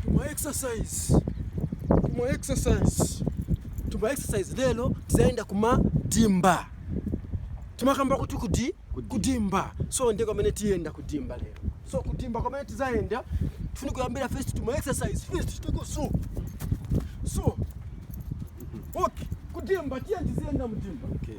Tuma exercise. Tuma exercise. Tuma exercise lelo tizaenda kuma dimba. Tima kamba kuti kudi kudimba. So ndiko mene tienda kudimba lelo. So kudimba kwa mene tizaenda. Tufuni kuyambira first tuma exercise first. Tuko so. So. Okay. Kudimba tiye tizienda mudimba. Okay.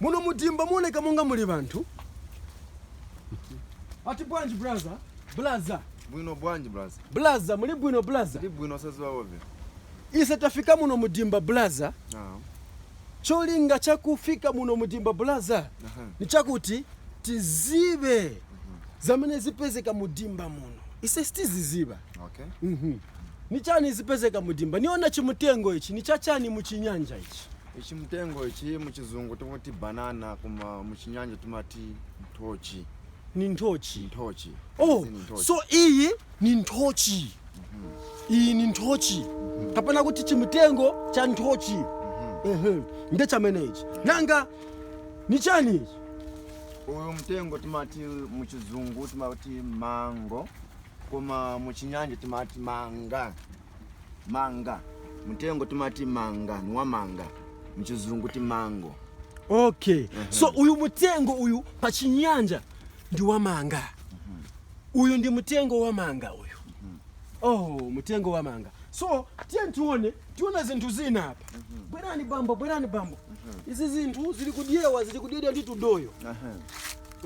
Muno mu dimba muoneka monga muli banthu. Ati bwanji braza? Blaza. Bwino bwanji blaza? Blaza, muli bwino blaza? Tili bwino osaziwa inu. Ise tafika muno mu dimba blaza. Ah. Cholinga chakufika muno mu dimba blaza Aha. ni chakuti tizibe zamene zipezeka mu dimba muno. Ise sitiziziba. Okay. Mhm. Ni chani zipezeka mu dimba? Niona chimutengo ichi, ni cha chani mu chinyanja ichi? Ichi mtengo ichi muchizungu tikuti banana koma muchinyanja timati nthochi. Ni nthochi. Nthochi. Oh, Izi ni nthochi. so iyi ni nthochi. Iyi ni nthochi. Kapena kuti chimtengo cha nthochi. Ehe. Nde chamene ichi. Nanga ni chani ichi? Uyu mtengo timati muchizungu timati mango koma muchinyanja timati manga. manga mtengo timati manga ni wamanga mchizungu ndi mango okay so uyu mutengo uyu pa chinyanja ndi wamanga uyu ndi mutengo wamanga uyu oh mutengo wamanga so tiye tione tiona zinthu zina apa bwerani bambo bwerani bambo izi zinthu zili kudyewa zili kudyedwa ndi tudoyo Aha.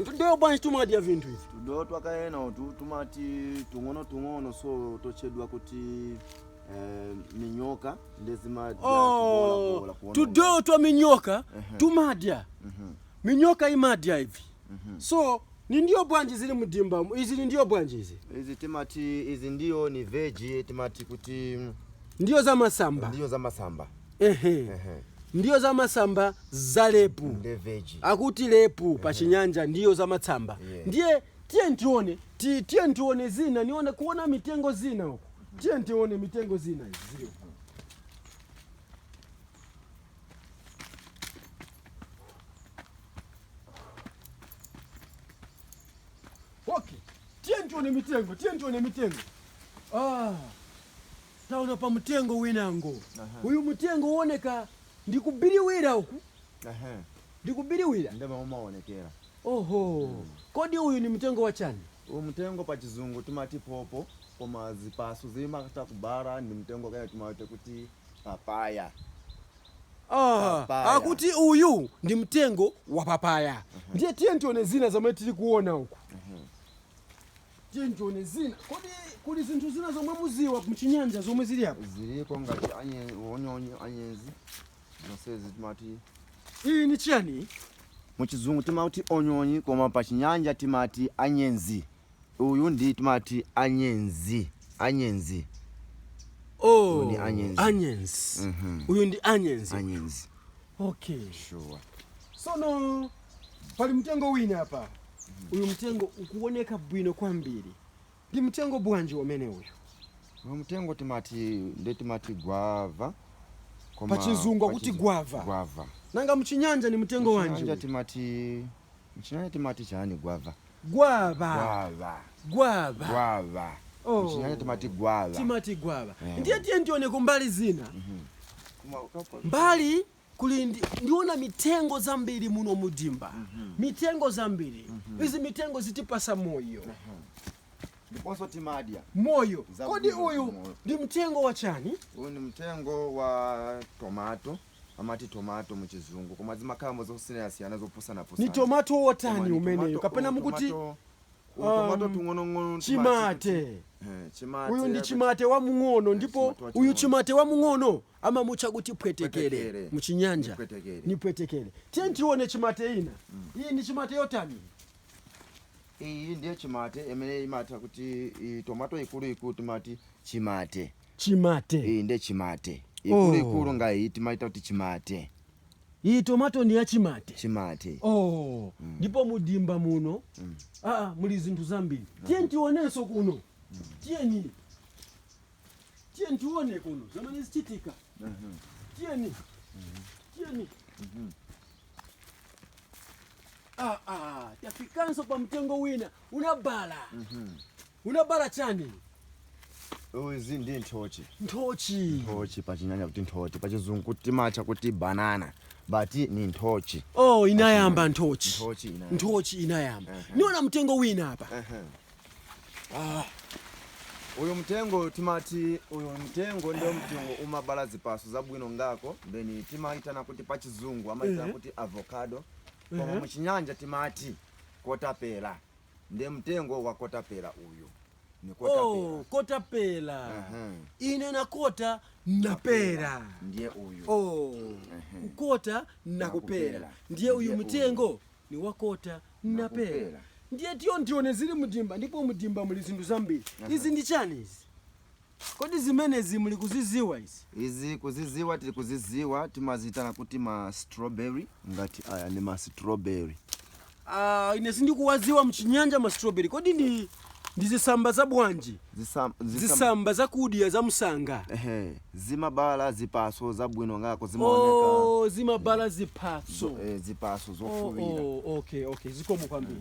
Tudoyo bwanji tumadya vinthu ivi. Tudoyo twake ena utu tumati tung'ono tung'ono so totchedwa kuti eh, minyoka nde zimadya oh, tudoyo twa minyoka uh -huh. tumadya uh mhm. -huh. minyoka imadya ivi uh mhm. -huh. so ni ndiwo bwanji zili mdimba izi ni ndiwo bwanji izi izi timati izi ndiwo ni veji timati kuti ndiwo za masamba ndiwo za masamba Ehe. Ehe. Ndiwo za masamba za lepu. Nde veji. Akuti lepu pa chinyanja ndiwo za masamba. Yeah. Ndiye tiye tione, ti- tiye tione zina, niona kuona mitengo zina uko. Tiye tione mitengo zina izi. Okay. Tiye tione mitengo, tiye tione mitengo. Ah. Taona pa mutengo winango. Aha. Uyu mutengo uoneka ndi wobiriwira uku. Aha. Ndi wobiriwira. Nde m'mene umaonekera. Oho. Mm. Kodi uyu ni mutengo wa chani? Uyu mutengo pa chizungu timati popo koma zipaso zimakhala kubala ndi mutengo wake timautcha kuti papaya. Ah, akuti uyu ndi mtengo wa papaya. Uh -huh. Ndiye tiye tione zina zomwe tili kuona uku. Uh -huh. Tiye tione zina. Kodi kuli zinthu zina zomwe muziwa mchinyanja zomwe zili apa? Ziliko ngati anyenzi, onyonyi, anyenzi. Zonsezi timati. Iyi ni chiyani? Muchizungu timati onyonyi koma pa chinyanja timati anyenzi. Uyu ndi timati anyenzi. Anyenzi. Oh, ni anyenzi. Anyenzi. Mm -hmm. Uyu ndi anyenzi. Anyenzi. Okay. sure Sono pali mtengo wina hapa. Uyu mtengo ukuoneka bwino kwambiri. Ndi mtengo bwanji wamene uyu? uyu mtengo timati nde timati gwava koma- Pachizungu akuti pachizu- gwava. gwava Nanga mchinyanja ni mtengo wanji? Mchinyanja uyu? timati Mchinyanja timati chani gwava? Gwava. Gwava. Gwava. Gwava. Oh. Mchinyanja timati gwava. Timati gwava. Yeah. Ndiye tiyeni tione kumbali zina. Mm -hmm. Mbali kuli ndi, ndiona mitengo zambiri muno mudimba. Mm -hmm. Mitengo zambiri. Mm -hmm. Izi mitengo zitipasa moyo. Mm -hmm ndiponso timadya moyo. Kodi uyu ndi mtengo wa chani? Uyu ndi mtengo wa tomato. amati tomato mu chizungu koma zimakhalamo zosiyanasiyana zopusana-pusana. Ni tomato wotani umeneyu kapena mukuti um, chimate eh, uyu ndi chimate wamng'ono eh, ndipo uyu chimate wamng'ono amamutcha kuti phwetekere mu chinyanja ni phwetekere tiyeni tione chimate ina mm. iyi ndi chimate yotani iyi ndiye chimate imene timatcha kuti tomato ikuluikulu timati chimate Chimate. Iyi nde chimate. Ikuluikulu Oh. nga iyi timaita kuti chimate. Iyi tomato ndi ya chimate. Chimate. Oh. Ndipo mu dimba muno ah, ah, muli zinthu zambiri. Tiyeni tioneso kuno. Tiyeni. Tiyeni tione kuno zamene zichitika. Tiyeni. Tiyeni. Ah, ah, tafikanso pa mtengo wina unabala. Unabala chani? Izi ndi nthochi. Nthochi. Nthochi pachinyanja kuti nthochi, pachizungu kuti timatcha kuti banana. But ni nthochi. Oh, inayamba nthochi. Nthochi inayamba. Nthochi inayamba. Uh -huh. Niona mtengo wina apa. Uh -huh. Ah. Uyu mtengo timati uyu mtengo ndiwo mtengo umabala zipaso zabwino ngako benji timaitana kuti pachizungu amaitana uh -huh. kuti avocado. Uh -huh. Koma muchinyanja timati kotapela. nde mtengo wa kotapela uyu ni kotapela oh kotapela Ehem. ine nakota napela ndiye uyu oh kukota nakupela Nakupela. ndiye uyu Ndiye mtengo ni wakota napela Nakupela. ndiye tiyeni tione zili mudimba ndipo mudimba muli zinthu zambiri izi ndi chani izi Kodi zimenezi muli kuziziwa izi? Izi kuziziwa tili kuziziwa timaziitana kuti ma strawberry. Ngati aya ndi ma strawberry. Aaa ine sindikuwaziwa mchinyanja ma strawberry kodi ndi ndi zisamba za bwanji? Zisam, zisam, Zisamba zakudya za msanga. ehe, zimabala zipaso zabwino ngako zimaoneka Ooo zimabala zipatso. zo, eh, zipaso Oh, zofuwira. oh, okay, okay. Zikomo kwambiri.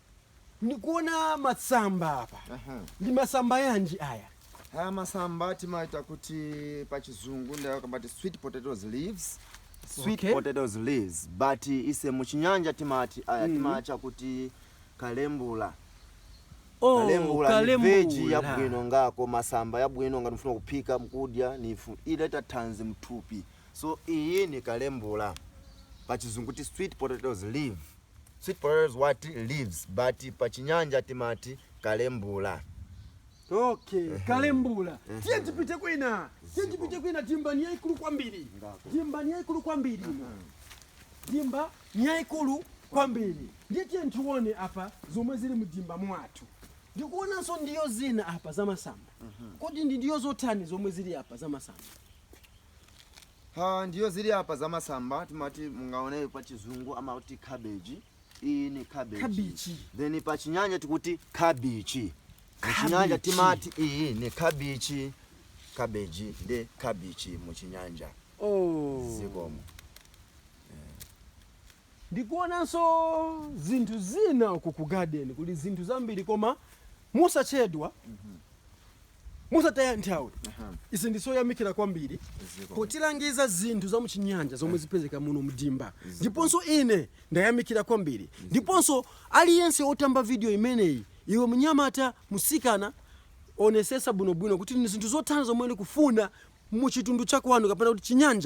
Nikuona masamba apa. Aha. Ndi masamba yanji aya? Aya masamba timaitana kuti pa chizungu ndiye akamba ati sweet potatoes leaves. Sweet Okay. potatoes leaves but ise mu chinyanja timati aya timacha kuti kalembula. Oh, kalembula ni kalembula. veji yabwino ngako masamba yabwino ngati mufuna kuphika mkudya ndiye ileta thanzi mthupi so iyi ni kalembula pachizungu kuti sweet potatoes leaf Sweet potato leaves but pa chinyanja timati kalembula. Okay kalembula tiye tipite kwina tiye tipite kwina dimba ni yaikulu kwambiri dimba ni yaikulu kwambiri ino dimba ni yaikulu kwambiri ndiye tiye tione apa zomwe zili mdimba mwathu ndikuonanso ndiwo zina apa zamasamba kodi ndi ndiwo zotani zomwe zili apa zamasamba Ha, ndiwo zili apa za masamba timati mungaone pa chizungu amati cabbage. Iyi ni cabbage. Kabichi. Then pa chinyanja tikuti kabichi. Pa chinyanja Kabichi. timati iyi ni kabichi. Cabbage ndi kabichi mu chinyanja. Oh. Zikomo. Ndikuonanso zinthu zina uku ku garden kuli zinthu zambiri koma mosachedwa mosataya nthawi ine ndizoyamikira kwambiri potilangiza zinthu za muchinyanja zomwe zipezeka muno mdimba ndiponso ine ndayamikira kwambiri ndiponso aliyense otamba video imeneyi iwe mnyamata musikana onesesa bwinobwino kuti ndi zinthu zotani zomwe ndikufuna muchitundu chakwanu kapena kuti chinyanja